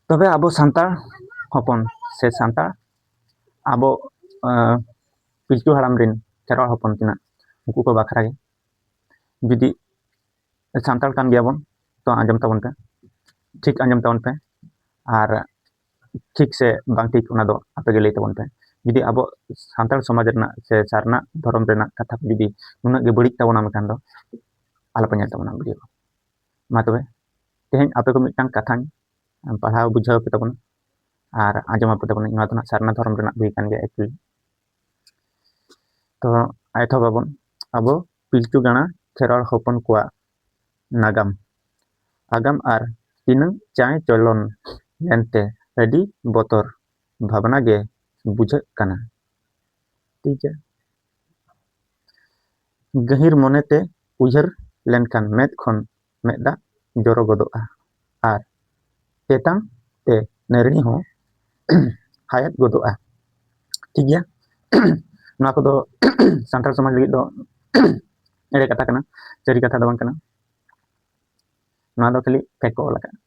ᱛᱚᱵᱮ ᱟᱵᱚ ᱥᱟᱱᱛᱟᱲ ᱦᱚᱯᱚᱱ ᱥᱮ ᱥᱟᱱᱛᱟᱲ ᱟᱵᱚ ᱯᱤᱞᱪᱩ ᱦᱟᱲᱟᱢ ᱨᱮᱱ ᱠᱷᱮᱨᱣᱟᱲ ᱦᱚᱯᱚᱱ ᱠᱤᱱᱟᱜ ᱩᱱᱠᱩ ᱠᱚ ᱵᱟᱠᱷᱨᱟ ᱜᱮ ᱡᱩᱫᱤ ᱥᱟᱱᱛᱟᱲ ᱠᱟᱱ ᱜᱮᱭᱟ ᱵᱚᱱ ᱛᱚ ᱟᱸᱡᱚᱢ ᱛᱟᱵᱚᱱ ᱯᱮ ᱴᱷᱤᱠ ᱟᱸᱡᱚᱢ ᱛᱟᱵᱚᱱ ᱯᱮ ᱟᱨ ᱴᱷᱤᱠ ᱥᱮ ᱵᱟᱝ ᱴᱷᱤᱠ ᱚᱱᱟ ᱫᱚ ᱟᱯᱮ ᱜᱮ ᱞᱟᱹᱭ ᱛᱟᱵᱚᱱ ᱯᱮ ᱡᱩᱫᱤ ᱟᱵᱚ ᱥᱟᱱᱛᱟᱲ ᱥᱚᱢᱟᱡᱽ ᱨᱮᱱᱟᱜ ᱥᱮ ᱥᱟᱨᱱᱟ ᱫᱷᱚᱨᱚᱢ ᱨᱮᱱᱟᱜ ᱠᱟᱛᱷᱟ ᱡᱩᱫᱤ ᱱᱩᱱᱟᱹᱜ ᱜᱮ ᱵᱟᱹᱲᱤᱡ ᱛᱟᱵᱚᱱᱟ ᱢᱮᱱᱠᱷᱟᱱ ᱫᱚ ᱟᱞᱚᱯᱮ ᱧᱮᱞ ᱛᱟᱵᱚᱱᱟ ᱵᱷᱤᱰᱤᱭᱳ ᱢᱟ ᱛᱚᱵᱮ ᱛᱮᱦᱮᱧ ᱟᱯᱮ ᱠᱚ ᱢᱤᱫᱴᱟᱝ ᱠᱟᱛᱷᱟᱧ ᱯᱟᱲᱦᱟᱣ ᱵᱩᱡᱷᱟᱹᱣ ᱯᱮ ᱛᱟᱵᱚᱱᱟ ᱟᱨ ᱟᱸᱡᱚᱢ ᱟᱯᱮ ᱛᱟᱵᱚᱱᱟᱹᱧ ᱱᱚᱣᱟ ᱫᱚ ᱱᱟᱜ ᱥᱟᱨᱱᱟ ᱫᱷᱚᱨᱚᱢ ᱨᱮᱱᱟᱜ ᱵᱳᱭ ᱠᱟᱱ ᱜᱮᱭᱟ ᱮᱠᱪᱩᱭᱮᱞᱤ ᱛᱚ ᱮᱛᱚᱦᱚᱵ ᱟᱵᱚᱱ ᱟᱵᱚ ᱯᱤᱞᱪᱩ ᱜᱟᱬᱟ ᱠᱷᱮᱨᱣᱟᱲ ᱦᱚᱯᱚᱱ ᱠᱚᱣᱟᱜ ᱱᱟᱜᱟᱢ ᱟᱜᱟᱢ ᱟᱨ ᱛᱤᱱᱟᱹᱝ ᱪᱟᱭ ᱪᱚᱞᱚᱱ ᱞᱮᱱᱛᱮ ᱟᱹᱰᱤ ᱵᱚᱛᱚᱨ ᱵᱷᱟᱵᱽᱱᱟ ᱜᱮ ᱵᱩᱡᱷᱟᱹᱜ ᱠᱟᱱᱟ ᱴᱷᱤᱠ ᱜᱮᱭᱟ ᱜᱟᱹᱦᱤᱨ ᱢᱚᱱᱮ ᱛᱮ ᱩᱭᱦᱟᱹᱨ ᱞᱮᱱᱠᱷᱟᱱ ᱢᱮᱫ ᱠᱷᱚᱱ ᱢᱮᱫ ᱫᱟᱜ ᱡᱚᱨᱚ ᱜᱚᱫᱚᱜᱼᱟ ᱟᱨ ᱛᱮᱛᱟᱝ ᱛᱮ ᱱᱟᱹᱨᱲᱤ ᱦᱚᱸ ᱦᱟᱭᱮᱫ ᱜᱚᱫᱚᱜᱼᱟ ᱴᱷᱤᱠ ᱜᱮᱭᱟ ᱱᱚᱣᱟ ᱠᱚᱫᱚ ᱥᱟᱱᱛᱟᱲ ᱥᱚᱢᱟᱡᱽ ᱞᱟᱹᱜᱤᱫ ᱫᱚ ᱮᱲᱮ ᱠᱟᱛᱷᱟ ᱠᱟᱱᱟ ᱥᱟᱹᱨᱤ ᱠᱟᱛᱷᱟ ᱫᱚ ᱵᱟᱝ ᱠᱟᱱᱟ ᱱᱚᱣᱟ ᱫᱚ ᱠᱷᱟᱹᱞᱤ ᱯᱷᱮᱠ ᱠᱚ ᱚᱞ ᱟᱠᱟᱫᱼᱟ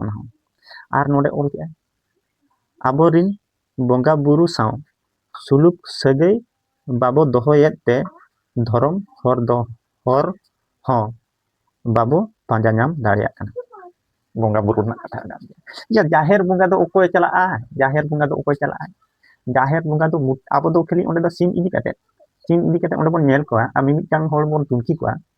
ᱚᱱᱟ ᱦᱚᱸ ᱟᱨ ᱱᱚᱰᱮ ᱚᱞ ᱠᱮᱫᱼᱟ ᱟᱵᱚᱨᱤᱱ ᱵᱚᱸᱜᱟ ᱵᱩᱨᱩ ᱥᱟᱶ ᱥᱩᱞᱩᱠ ᱥᱟᱹᱜᱟᱹᱭ ᱵᱟᱵᱚ ᱫᱚᱦᱚᱭᱮᱫ ᱛᱮ ᱫᱷᱚᱨᱚᱢ ᱦᱚᱨ ᱫᱚ ᱦᱚᱨ ᱦᱚᱸ ᱵᱟᱵᱚ ᱯᱟᱸᱡᱟ ᱧᱟᱢ ᱫᱟᱲᱮᱭᱟᱜ ᱠᱟᱱᱟ ᱵᱚᱸᱜᱟ ᱵᱩᱨᱩ ᱨᱮᱱᱟᱜ ᱠᱟᱛᱷᱟ ᱠᱟᱱ ᱜᱮᱭᱟ ᱡᱟᱦᱮᱨ ᱵᱚᱸᱜᱟ ᱫᱚ ᱚᱠᱚᱭ ᱪᱟᱞᱟᱜᱼᱟ ᱡᱟᱦᱮᱨ ᱵᱚᱸᱜᱟ ᱫᱚ ᱚᱠᱚᱭ ᱪᱟᱞᱟᱜᱼᱟ ᱡᱟᱦᱮᱨ ᱵᱚᱸᱜᱟ ᱫᱚ ᱟᱵᱚ ᱫᱚ ᱠᱷᱟᱹᱞᱤ ᱚᱸᱰᱮ ᱫᱚ ᱥᱤᱢ ᱤᱫᱤ ᱠᱟᱛᱮ ᱥᱤᱢ ᱤᱫᱤ ᱠᱟᱛᱮ ᱚᱸᱰᱮ ᱵᱚᱱ ᱧᱮᱞ ᱠᱚᱣᱟ ᱟᱨ ᱢᱤᱢᱤᱫᱴᱟᱝ ᱦᱚᱲ ᱵᱚᱱ ᱛᱩᱱᱠᱷᱤ ᱠᱚᱣᱟ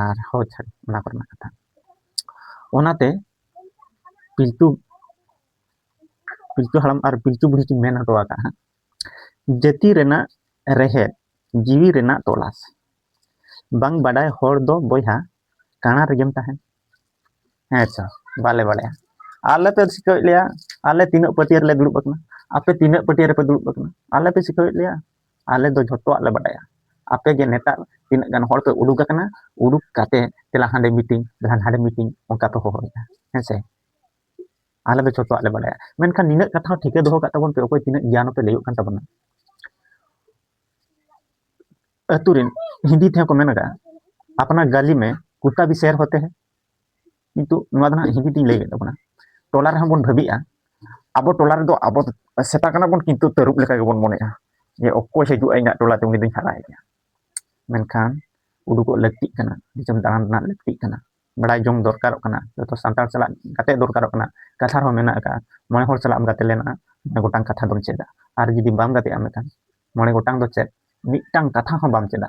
ᱟᱨ ᱦᱚᱲ ᱪᱷᱟᱹᱲ ᱚᱱᱟ ᱠᱚᱨᱮᱱᱟᱜ ᱠᱟᱛᱷᱟ ᱚᱱᱟᱛᱮ ᱯᱤᱞᱪᱩ ᱯᱤᱞᱪᱩ ᱦᱟᱲᱟᱢ ᱟᱨ ᱯᱤᱞᱪᱩ ᱵᱩᱲᱦᱤ ᱠᱤᱱ ᱢᱮᱱ ᱦᱚᱴᱚ ᱟᱠᱟᱫᱼᱟ ᱡᱟᱹᱛᱤ ᱨᱮᱱᱟᱜ ᱨᱮᱦᱮᱫ ᱡᱤᱣᱤ ᱨᱮᱱᱟᱜ ᱛᱚᱞᱟᱥ ᱵᱟᱝ ᱵᱟᱰᱟᱭ ᱦᱚᱲ ᱫᱚ ᱵᱚᱭᱦᱟ ᱠᱟᱬᱟ ᱨᱮᱜᱮᱢ ᱛᱟᱦᱮᱱ ᱦᱮᱸ ᱥᱮ ᱵᱟᱞᱮ ᱵᱟᱲᱟᱭᱟ ᱟᱞᱮ ᱯᱮ ᱥᱤᱠᱷᱟᱹᱣᱮᱫ ᱞᱮᱭᱟ ᱟᱞᱮ ᱛᱤᱱᱟᱹᱜ ᱯᱟᱹᱴᱭᱟᱹ ᱨᱮᱞᱮ ᱫᱩᱲᱩᱵ ᱟᱠᱟᱱᱟ ᱟᱯᱮ ᱛᱤᱱᱟᱹᱜ ᱯᱟᱹᱴᱭᱟᱹ ᱨᱮᱯᱮ ᱫᱩᱲᱩᱵ ᱟᱠᱟᱱᱟ ᱟᱞᱮ ᱯᱮ ᱥᱤᱠᱷᱟᱹᱣᱮᱫ ᱞᱮᱭᱟ ᱟᱞᱮ ᱫᱚ ᱡᱷᱚᱛᱚᱣᱟᱜ ᱞᱮ ᱵᱟᱰᱟᱭᱟ ᱟᱯᱮ ᱜᱮ ᱱᱮᱛᱟᱨ ᱛᱤᱱᱟᱹᱜ ᱜᱟᱱ ᱦᱚᱲ ᱯᱮ ᱩᱰᱩᱠ ᱟᱠᱟᱱᱟ ᱩᱰᱩᱠ ᱠᱟᱛᱮ ᱫᱮᱞᱟ ᱦᱟᱸᱰᱮ ᱢᱤᱴᱤᱝ ᱫᱮᱞᱟ ᱱᱟᱸᱰᱮ ᱢᱤᱴᱤᱝ ᱚᱱᱠᱟ ᱯᱮ ᱦᱚᱦᱚᱭᱮᱫᱟ ᱦᱮᱸ ᱥᱮ ᱟᱞᱮ ᱫᱚ ᱡᱷᱚᱛᱚᱣᱟᱜ ᱞᱮ ᱵᱟᱰᱟᱭᱟ ᱢᱮᱱᱠᱷᱟᱱ ᱱᱤᱱᱟᱹᱜ ᱠᱟᱛᱷᱟ ᱦᱚᱸ ᱴᱷᱤᱠᱟᱹ ᱫᱚᱦᱚ ᱠᱟᱜ ᱛᱟᱵᱚᱱ ᱯᱮ ᱚᱠᱚᱭ ᱛᱤᱱᱟᱹᱜ ᱜᱮᱭᱟᱱ ᱯᱮ ᱞᱟᱹᱭᱚᱜ ᱠᱟᱱ ᱛᱟᱵᱚᱱᱟ ᱟᱹᱛᱩ ᱨᱮᱱ ᱦᱤᱱᱫᱤ ᱛᱮᱦᱚᱸ ᱠᱚ ᱢᱮᱱ ᱟᱠᱟᱫᱼᱟ ᱟᱯᱱᱟ ᱜᱟᱞᱤ ᱢᱮ ᱠᱩᱛᱟ ᱵᱤ ᱥᱮᱨ ᱦᱚᱛᱮ ᱦᱮᱸ ᱠᱤᱱᱛᱩ ᱱᱚᱣᱟ ᱫᱚ ᱦᱟᱸᱜ ᱦᱤᱱᱫᱤ ᱛᱤᱧ ᱞᱟᱹᱭᱮᱫ ᱛᱟᱵᱚᱱᱟ ᱴᱚᱞᱟ ᱨᱮᱦᱚᱸ ᱵᱚᱱ ᱵᱷᱟᱹᱵᱤᱜᱼᱟ ᱟᱵᱚ ᱴᱚᱞᱟ ᱨᱮᱫᱚ ᱟᱵᱚ ᱥᱮᱛᱟ ᱠᱟᱱᱟ ᱵᱚᱱ ᱠᱤᱱᱛᱩ ᱛᱟᱹᱨᱩᱵ ᱞᱮᱠᱟ ᱜᱮᱵᱚᱱ ᱢᱚᱱᱮᱜᱼᱟ ᱡᱮ ᱚᱠᱚᱭ ᱦᱤᱡᱩᱜᱼᱟ ᱤᱧᱟᱹᱜ ᱴᱚᱞᱟ ᱛᱮ ᱩᱱᱤ ᱫᱚᱧ ᱦᱟᱨᱟᱭᱮᱭᱟ ᱢᱮᱱᱠᱷᱟᱱ ᱩᱰᱩᱠᱚᱜ ᱞᱟᱹᱠᱛᱤᱜ ᱠᱟᱱᱟ ᱫᱤᱥᱚᱢ ᱫᱟᱬᱟᱱ ᱨᱮᱱᱟᱜ ᱞᱟᱹᱠᱛᱤᱜ ᱠᱟᱱᱟ ᱵᱟᱲᱟᱭ ᱡᱚᱝ ᱫᱚᱨᱠᱟᱨᱚᱜ ᱠᱟᱱᱟ ᱡᱚᱛᱚ ᱥᱟᱱᱛᱟᱲ ᱥᱟᱞᱟᱜ ᱜᱟᱛᱮ ᱫᱚᱨᱠᱟᱨᱚᱜ ᱠᱟᱱᱟ ᱠᱟᱛᱷᱟ ᱨᱮᱦᱚᱸ ᱢᱮᱱᱟᱜ ᱟᱠᱟᱫᱼᱟ ᱢᱚᱬᱮ ᱦᱚᱲ ᱥᱟᱞᱟᱜ ᱮᱢ ᱜᱟᱛᱮ ᱞᱮᱱᱟ ᱢᱚᱬᱮ ᱜᱚᱴᱟᱝ ᱠᱟᱛᱷᱟ ᱫᱚᱢ ᱪᱮᱫᱟ ᱟᱨ ᱡᱩᱫᱤ ᱵᱟᱢ ᱜᱟᱛᱮᱜᱼᱟ ᱢᱮᱱᱠᱷᱟᱱ ᱢᱚᱬᱮ ᱜᱚᱴᱟᱝ ᱫᱚ ᱪᱮᱫ ᱢᱤᱫᱴᱟᱝ ᱠᱟᱛᱷᱟ ᱦᱚᱸ ᱵᱟᱢ ᱪᱮᱫᱟ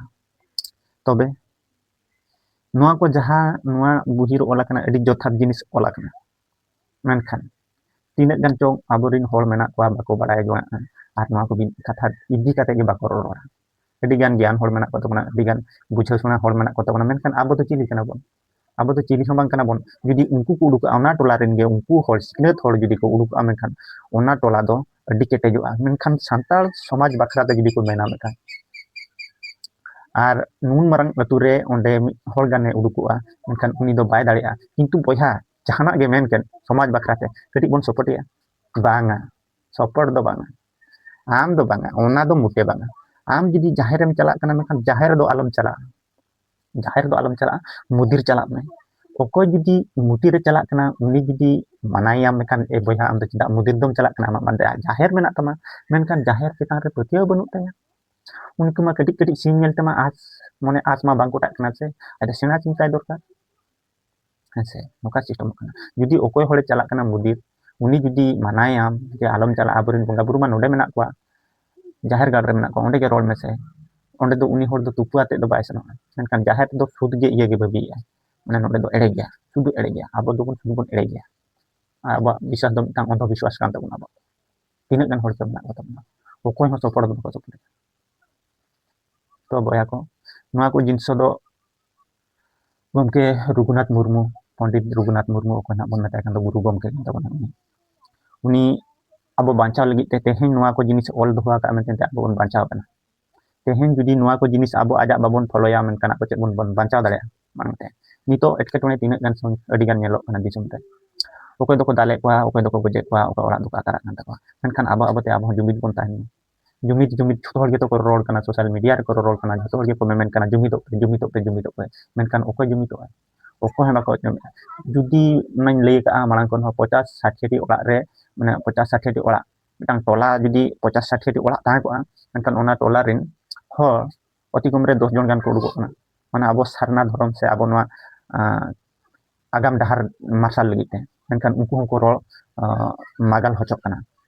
ᱛᱚᱵᱮ ᱱᱚᱣᱟ ᱠᱚ ᱡᱟᱦᱟᱸ ᱱᱚᱣᱟ ᱵᱩᱦᱤ ᱨᱮ ᱚᱞ ᱟᱠᱟᱱᱟ ᱟᱹᱰᱤ ᱡᱚᱛᱷᱟᱛ ᱡᱤᱱᱤᱥ ᱚᱞ ᱟᱠᱟᱱᱟ ᱢᱮᱱᱠᱷᱟᱱ ᱛᱤᱱᱟᱹᱜ ᱜᱟᱱ ᱪᱚᱝ ᱟᱵᱚᱨᱮᱱ ᱦᱚᱲ ᱢᱮᱱᱟᱜ ᱠᱚᱣᱟ ᱵᱟᱠᱚ ᱵᱟᱲᱟᱭ ᱡᱚᱝᱟᱜ ᱠᱟᱱᱟ ᱟᱨ ᱱᱚᱣᱟ ᱠᱚ ᱠᱟᱛᱷᱟ ᱤᱫᱤ ᱠᱟᱛᱮ ᱜᱮ ᱵᱟᱠᱚ ᱨᱚᱲᱟ ᱟᱹᱰᱤ ᱜᱟᱱ ᱜᱮᱭᱟᱱ ᱦᱚᱲ ᱢᱮᱱᱟᱜ ᱠᱚ ᱛᱟᱵᱚᱱᱟ ᱟᱹᱰᱤ ᱜᱟᱱ ᱵᱩᱡᱷᱟᱹᱣ ᱥᱚᱱᱟ ᱦᱚᱲ ᱢᱮᱱᱟᱜ ᱠᱚ ᱛᱟᱵᱚᱱᱟ ᱢᱮᱱᱠᱷᱟᱱ ᱟᱵᱚ ᱫᱚ ᱪᱤᱞᱤ ᱠᱟᱱᱟ ᱵᱚᱱ ᱟᱵᱚ ᱫᱚ ᱪᱤᱞᱤ ᱦᱚᱸ ᱵᱟᱝ ᱠᱟᱱᱟ ᱵᱚᱱ ᱡᱩᱫᱤ ᱩᱱᱠᱩ ᱠᱚ ᱩᱰᱩᱠᱚᱜᱼᱟ ᱚᱱᱟ ᱴᱚᱞᱟ ᱨᱮᱱ ᱜᱮ ᱩᱱᱠᱩ ᱦᱚᱲ ᱥᱤᱠᱷᱱᱟᱹᱛ ᱦᱚᱲ ᱡᱩᱫᱤ ᱠᱚ ᱩᱰᱩᱠᱚᱜᱼᱟ ᱢᱮᱱᱠᱷᱟᱱ ᱚᱱᱟ ᱴᱚᱞᱟ ᱫᱚ ᱟᱹᱰᱤ ᱠᱮᱴᱮᱡᱚᱜᱼᱟ ᱢᱮᱱᱠᱷᱟᱱ ᱥᱟᱱᱛᱟᱲ ᱥᱚᱢᱟᱡᱽ ᱵᱟᱠᱷᱨᱟ ᱛᱮ ᱡᱩᱫᱤ ᱠᱚ ᱢᱮᱱᱟ ᱢᱤᱫᱴᱟᱝ ᱟᱨ ᱱᱩᱱ ᱢᱟᱨᱟᱝ ᱟᱹᱛᱩ ᱨᱮ ᱚᱸᱰᱮ ᱢᱤᱫ ᱦᱚᱲ ᱜᱟᱱᱮ ᱩᱰᱩᱠᱚᱜᱼᱟ ᱢᱮᱱᱠᱷᱟᱱ ᱩᱱᱤ ᱫᱚ ᱵᱟᱭ ᱫᱟᱲᱮᱭᱟᱜᱼᱟ ᱠᱤᱱᱛᱩ ᱵᱚᱭᱦᱟ ᱡᱟᱦᱟᱱᱟᱜ ᱜᱮ ᱢᱮᱱ ᱠᱮᱫ ᱥᱚᱢᱟᱡᱽ ᱵᱟᱠᱷᱨᱟ ᱛᱮ ᱠᱟᱹᱴᱤᱡ ᱵᱚᱱ ᱥᱚᱯᱚᱴᱮᱭᱟ ᱵᱟᱝᱟ ᱥᱚᱯᱚᱴ ᱫᱚ ᱵᱟᱝᱟ ᱟᱢ ᱫᱚ ᱵᱟᱝᱟ ᱚᱱᱟ ᱫᱚ ᱢᱚᱴᱮ ᱵᱟᱝᱟ ᱟᱢ ᱡᱩᱫᱤ ᱡᱟᱦᱮᱨᱮᱢ ᱪᱟᱞᱟᱜ ᱠᱟᱱᱟ ᱢᱮᱱᱠᱷᱟᱱ ᱡᱟᱦᱮᱨ ᱫᱚ ᱟᱞᱚᱢ ᱪᱟᱞᱟᱜᱼᱟ ᱡᱟᱦᱮᱨ ᱫᱚ ᱟᱞᱚᱢ ᱪᱟᱞᱟᱜᱼᱟ ᱢᱚᱫᱤᱨ ᱪᱟᱞᱟᱜ ᱢᱮ ᱚᱠᱚᱭ ᱡᱩᱫᱤ ᱢᱚᱫᱤᱨᱮ ᱪᱟᱞᱟᱜ ᱠᱟᱱᱟ ᱩᱱᱤ ᱡᱩᱫᱤ ᱢᱟᱱᱟᱭᱮᱭᱟᱢ ᱢᱮᱱᱠᱷᱟᱱ ᱮ ᱵᱚᱭᱦᱟ ᱟᱢ ᱫᱚ ᱪᱮᱫᱟᱜ ᱢᱚᱫᱤᱨ ᱫᱚᱢ ᱪᱟᱞᱟᱜ ᱠᱟᱱᱟ ᱟᱢᱟᱜ ᱢᱟᱱᱮ ᱡᱟᱦᱮᱨ ᱢᱮᱱᱟᱜ ᱛᱟᱢᱟ ᱢᱮᱱᱠᱷᱟᱱ ᱡᱟᱦᱮᱨ ᱪᱮᱛᱟᱱ ᱨᱮ ᱯᱟᱹᱛᱭᱟᱹᱣ ᱵᱟᱹᱱᱩᱜ ᱛᱟᱭᱟ ᱩᱱᱠᱩ ᱢᱟ ᱠᱟᱹᱴᱤᱡ ᱠᱟᱹᱴᱤᱡ ᱥᱤᱢ ᱧᱮᱞ ᱛᱮᱢᱟ ᱟᱸᱥ ᱢᱚᱱᱮ ᱟᱸᱥ ᱢᱟ ᱵᱟᱝ ᱜᱚᱴᱟᱜ ᱠᱟᱱᱟ ᱥᱮ ᱟᱫᱚ ᱥᱮᱬᱟ ᱥᱤᱢ ᱪᱟᱭ ᱫᱚᱨᱠᱟᱨ ᱦᱮᱸᱥᱮ ᱱᱚᱝᱠᱟ ᱥᱤᱥᱴᱮᱢᱚᱜ ᱠᱟᱱᱟ ᱡᱩᱫᱤ ᱚᱠᱚᱭ ᱦᱚᱲᱮ ᱪᱟᱞᱟᱜ ᱠᱟᱱᱟ ᱢᱚᱱᱫᱤᱨ ᱩᱱᱤ ᱡᱩᱫᱤ ᱢᱟᱱᱟᱭᱟᱢ ᱡᱮ ᱟᱞᱚᱢ ᱪᱟᱞᱟᱜᱼᱟ ᱟᱵᱚᱨᱮᱱ ᱵᱚᱸᱜᱟ ᱵᱩᱨᱩ ᱢᱟ ᱱᱚᱰᱮ ᱢᱮᱱᱟᱜ ᱠᱚᱣᱟ ᱡᱟᱦᱮᱨ ᱜᱟᱲ ᱨᱮ ᱢᱮᱱᱟᱜ ᱠᱚᱣᱟ ᱚᱸᱰᱮ ᱜᱮ ᱨᱚᱲ ᱢᱮᱥᱮ ᱚᱸᱰᱮ ᱫᱚ ᱩᱱᱤ ᱦᱚᱲ ᱫᱚ ᱛᱩᱯᱩ ᱟᱛᱮᱫ ᱫᱚ ᱵᱟᱭ ᱥᱮᱱᱚᱜᱼᱟ ᱢᱮᱱᱠᱷᱟᱱ ᱡᱟᱦᱮᱨ ᱫᱚ ᱥᱩᱫ ᱜᱮ ᱤᱭᱟᱹ ᱜᱮ ᱵᱷᱟᱹᱵᱤᱭᱮᱜᱼᱟ ᱢᱟᱱᱮ ᱱᱚᱰᱮ ᱫᱚ ᱮᱲᱮ ᱜᱮᱭᱟ ᱥᱩᱫᱩ ᱮᱲᱮ ᱜᱮᱭᱟ ᱟᱵᱚ ᱫᱚᱵᱚᱱ ᱥᱩᱫᱩ ᱵᱚᱱ ᱮᱲᱮ ᱜᱮᱭᱟ ᱟᱨ ᱟᱵᱚᱣᱟᱜ ᱵᱤᱥᱣᱟᱥ ᱫᱚ ᱢᱤᱫᱴᱟᱝ ᱚᱱᱫᱷᱚ ᱵᱤᱥᱣᱟᱥ ᱠᱟᱱ ᱛᱟᱵᱚᱱᱟ ᱟᱵᱚᱣᱟᱜ ᱛᱤᱱᱟᱹᱜ ᱜᱟᱱ ᱦᱚᱲ ᱪᱚ ᱢᱮᱱᱟᱜ ᱠᱚ ᱛᱟᱵᱚᱱᱟ ᱚᱠᱚᱭ ᱦᱚᱸ ᱥᱚᱯᱚᱲ ᱫᱚ ᱵᱟᱠᱚ ᱥᱚᱯᱚᱲᱮᱫᱟ ᱛᱚ ᱵᱚᱭᱦᱟ ᱠᱚ ᱱᱚᱣᱟ ᱠᱚ ᱡᱤᱱᱤᱥ ᱫᱚ ᱜᱚᱢᱠᱮ ᱨᱚᱜᱷᱩᱱᱟᱛᱷ ᱢᱩᱨᱢᱩ ᱯᱚᱱᱰᱤᱛ ᱨᱚᱜᱷᱩᱱᱟᱛᱷ ᱢᱩᱨᱢᱩ ᱚᱠᱚᱭ ᱱᱟᱜ ᱵᱚᱱ ᱢᱮᱛᱟᱭ ᱠᱟᱱ ᱫᱚ ᱜᱩᱨᱩ ᱜᱚᱢᱠᱮ ᱠᱟᱱ ᱛᱟᱵᱚᱱᱟ ᱩᱱᱤ ᱩᱱᱤ ᱟᱵᱚ ᱵᱟᱧᱪᱟᱣ ᱞᱟᱹᱜᱤᱫ ᱛᱮ ᱛᱮᱦᱮᱧ ᱱᱚᱣᱟ ᱠᱚ ᱡᱤᱱᱤᱥ ᱚᱞ ᱫᱚᱦᱚ ᱟᱠᱟᱫ ᱢᱮᱱᱛᱮ ᱟᱵᱚ ᱵᱚᱱ ᱵᱟᱧᱪᱟᱣ ᱠᱟᱱᱟ ᱛᱮᱦᱮᱧ ᱡᱩᱫᱤ ᱱᱚᱣᱟ ᱠᱚ ᱡᱤᱱᱤᱥ ᱟᱵᱚ ᱟᱡᱟᱜ ᱵᱟᱵᱚᱱ ᱯᱷᱚᱞᱚᱭᱟ ᱢᱮᱱᱠᱷᱟᱱ ᱟᱵᱚ ᱪᱮᱫ ᱵᱚᱱ ᱵᱟᱧᱪᱟᱣ ᱫᱟᱲᱮᱭᱟᱜᱼᱟ ᱢᱟᱲᱟᱝ ᱛᱮ ᱱᱤᱛᱚᱜ ᱮᱴᱠᱮᱴᱚᱬᱮ ᱛᱤᱱᱟᱹᱜ ᱜᱟᱱ ᱟᱹᱰᱤ ᱜᱟᱱ ᱧᱮᱞᱚᱜ ᱠᱟᱱᱟ ᱫᱤᱥᱚᱢ ᱨᱮ ᱚᱠᱚᱭ ᱫᱚᱠᱚ ᱫᱟᱞᱮᱫ ᱠᱚᱣᱟ ᱚᱠᱚᱭ ᱫᱚᱠᱚ ᱜᱚᱡᱮᱫ ᱠᱚᱣᱟ ᱚᱠᱚᱭ ᱚᱲᱟᱜ ᱫᱚᱠᱚ ᱟᱠᱟᱨᱟᱜ ᱠᱟᱱ ᱛᱟᱠᱚᱣᱟ ᱢᱮᱱᱠᱷᱟᱱ ᱟᱵᱚ ᱟᱵᱚᱛᱮ ᱟᱵᱚ ᱡᱩᱢᱤᱫ ᱵᱚᱱ ᱛᱟᱦᱮᱱ ᱡᱩᱢᱤᱫ ᱡᱩᱢᱤᱫ ᱡᱚᱛᱚ ᱦᱚᱲ ᱜᱮᱛᱚ ᱠᱚ ᱨᱚᱲ ᱠᱟᱱᱟ ᱥᱳᱥᱟᱞ ᱢᱤᱰᱤᱭᱟ ᱨᱮᱠᱚ ᱨᱚᱲ ᱠᱟᱱᱟ ᱡᱚᱛᱚ ᱦᱚᱲ ᱜᱮᱠᱚ ᱢᱮᱢᱮᱱ ᱠᱟᱱᱟ ᱡᱩᱢᱤᱫᱚᱜ ᱯᱮ ᱡᱩᱢᱤᱫᱚᱜ ᱯᱮ ᱡᱩᱢᱤᱫᱚᱜ ᱯᱮ ᱢᱮᱱᱠᱷᱟᱱ ᱚᱠᱚᱭ ᱡᱩᱢᱤᱫᱚᱜᱼᱟ ᱚᱠᱚᱭ ᱦᱚᱸ ᱵᱟᱠᱚ ᱟᱸᱡᱚᱢᱮᱜᱼᱟ ᱡᱩᱫᱤ ᱚᱱᱟᱧ ᱞᱟᱹᱭ ᱠᱟᱜᱼᱟ ᱢᱟᱲᱟᱝ ᱠᱷᱚᱱ ᱦᱚᱸ ᱯᱚᱪᱟᱥ ᱥᱟᱴᱷᱤᱴᱤ ᱚᱲᱟᱜ ᱨᱮ ᱢᱟᱱᱮ ᱯᱚᱪᱟᱥ ᱥᱟᱴᱷᱤᱴᱤ ᱚᱲᱟᱜ ᱢᱤᱫᱴᱟᱝ ᱴᱚᱞᱟ ᱡᱩᱫᱤ ᱯᱚᱪᱟᱥ ᱥᱟᱴᱷᱤᱴᱤ ᱚᱲᱟᱜ ᱛᱟᱦᱮᱸ ᱠᱚᱜᱼᱟ ᱢᱮᱱᱠᱷᱟᱱ ᱚᱱᱟ ᱴᱚᱞᱟ ᱨᱮᱱ ᱦᱚᱲ ᱚᱛᱤ ᱠᱚᱢ ᱨᱮ ᱫᱚᱥ ᱡᱚᱱ ᱜᱟᱱ ᱠᱚ ᱩᱰᱩᱠᱚᱜ ᱠᱟᱱᱟ ᱢᱟᱱᱮ ᱟᱵᱚ ᱥᱟᱨᱱᱟ ᱫᱷᱚᱨᱚᱢ ᱥᱮ ᱟᱵᱚ ᱱᱚᱣᱟ ᱟᱜᱟᱢ ᱰᱟᱦᱟᱨ ᱢᱟᱨᱥᱟᱞ ᱞᱟᱹᱜᱤᱫ ᱛᱮ ᱢᱮᱱᱠᱷᱟᱱ ᱩᱱᱠᱩ ᱦᱚᱸᱠᱚ ᱨᱚᱲ ᱢᱟᱜᱟᱞ ᱦᱚᱪᱚᱜ ᱠᱟᱱᱟ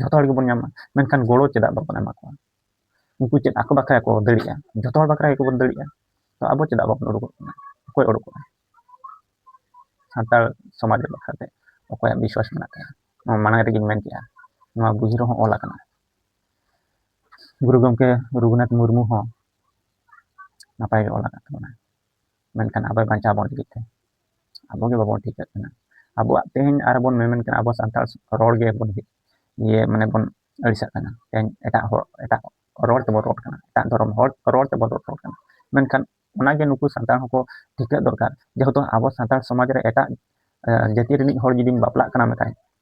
ᱡᱚᱛᱚ ᱦᱚᱲ ᱜᱮᱵᱚᱱ ᱧᱟᱢᱟ ᱢᱮᱱᱠᱷᱟᱱ ᱜᱚᱲᱚ ᱪᱮᱫᱟᱜ ᱵᱟᱵᱚᱱ ᱮᱢᱟ ᱠᱚᱣᱟ ᱩᱱᱠᱩ ᱪᱮᱫ ᱟᱠᱚ ᱵᱟᱠᱷᱨᱟ ᱠᱚ ᱫᱟᱲᱮᱭᱟᱜᱼᱟ ᱡᱚᱛᱚ ᱦᱚᱲ ᱵᱟᱠᱷᱨᱟ ᱜᱮᱠᱚ ᱵᱚᱱ ᱫᱟᱲᱮᱭᱟᱜᱼᱟ ᱛᱚ ᱟᱵᱚ ᱪᱮᱫᱟᱜ ᱵᱟᱵᱚᱱ ᱩᱰᱩᱠᱚᱜ ᱠᱟᱱᱟ ᱚᱠᱚᱭ ᱩᱰᱩᱠᱚᱜᱼᱟ ᱥᱟᱱᱛᱟᱲ ᱥᱚᱢᱟᱡᱽ ᱵᱟᱠᱷᱨᱟᱛᱮ ᱚᱠᱚᱭᱟᱜ ᱵᱤᱥᱣᱟᱥ ᱢᱮᱱᱟᱜ ᱛᱟᱭᱟ ᱱᱚᱣᱟ ᱢᱟᱲᱟᱝ ᱨᱮᱜᱮᱧ ᱢᱮᱱ ᱠᱮᱜᱼᱟ ᱱᱚᱣᱟ ᱵᱩᱡᱽ ᱨᱮᱦᱚᱸ ᱚᱞ ᱟᱠᱟᱱᱟ ᱜᱩᱨᱩ ᱜᱚᱢᱠᱮ ᱨᱚᱜᱷᱩᱱᱟᱛᱷ ᱢᱩᱨᱢᱩ ᱦᱚᱸ ᱱᱟᱯᱟᱭ ᱜᱮ ᱚᱞ ᱟᱠᱟᱫ ᱛᱟᱵᱚᱱᱟ ᱢᱮᱱᱠᱷᱟᱱ ᱟᱵᱚᱭ ᱵᱟᱧᱪᱟᱣ ᱵᱚᱱ ᱞᱟᱹᱜᱤᱫ ᱛᱮ ᱟᱵᱚ ᱜᱮ ᱵᱟᱵᱚᱱ ᱴᱷᱤᱠᱟᱜ ᱠᱟᱱᱟ ᱟᱵᱚᱣᱟᱜ ᱛᱮᱦᱮᱧ ᱟᱨ ᱵᱚᱱ ᱢᱮᱢᱮᱱ ᱠᱟᱱᱟ ᱟᱵᱚ ᱥᱟᱱᱛᱟᱲ ᱨᱚᱲ ᱜᱮ ᱵᱚᱱ ᱤᱭᱟᱹ ᱢᱟᱱᱮ ᱵᱚᱱ ᱟᱹᱲᱤᱥᱟᱜ ᱠᱟᱱᱟ ᱛᱮᱦᱮᱧ ᱮᱴᱟᱜ ᱦᱚᱲ ᱮᱴᱟᱜ ᱨᱚᱲ ᱛᱮᱵᱚᱱ ᱨᱚᱲ ᱠᱟᱱᱟ ᱮᱴᱟᱜ ᱫᱷᱚᱨᱚᱢ ᱦᱚᱲ ᱨᱚᱲ ᱛᱮᱵᱚᱱ ᱨᱚᱲ ᱠᱟᱱᱟ ᱢᱮᱱᱠᱷᱟᱱ ᱚᱱᱟᱜᱮ ᱱᱩᱠᱩ ᱥᱟᱱᱛᱟᱲ ᱦᱚᱸᱠᱚ ᱴᱷᱤᱠᱟᱹᱜ ᱫᱚᱨᱠᱟᱨ ᱡᱮᱦᱮᱛᱩ ᱟᱵᱚ ᱥᱟᱱᱛᱟᱲ ᱥᱚᱢᱟᱡᱽ ᱨᱮ ᱮᱴᱟᱜ ᱡᱟᱹᱛᱤ ᱨᱤᱱᱤᱡ ᱦᱚᱲ ᱡᱩᱫᱤᱢ ᱵᱟᱯᱞᱟᱜ ᱠᱟᱱᱟ ᱢᱮᱛᱟᱭ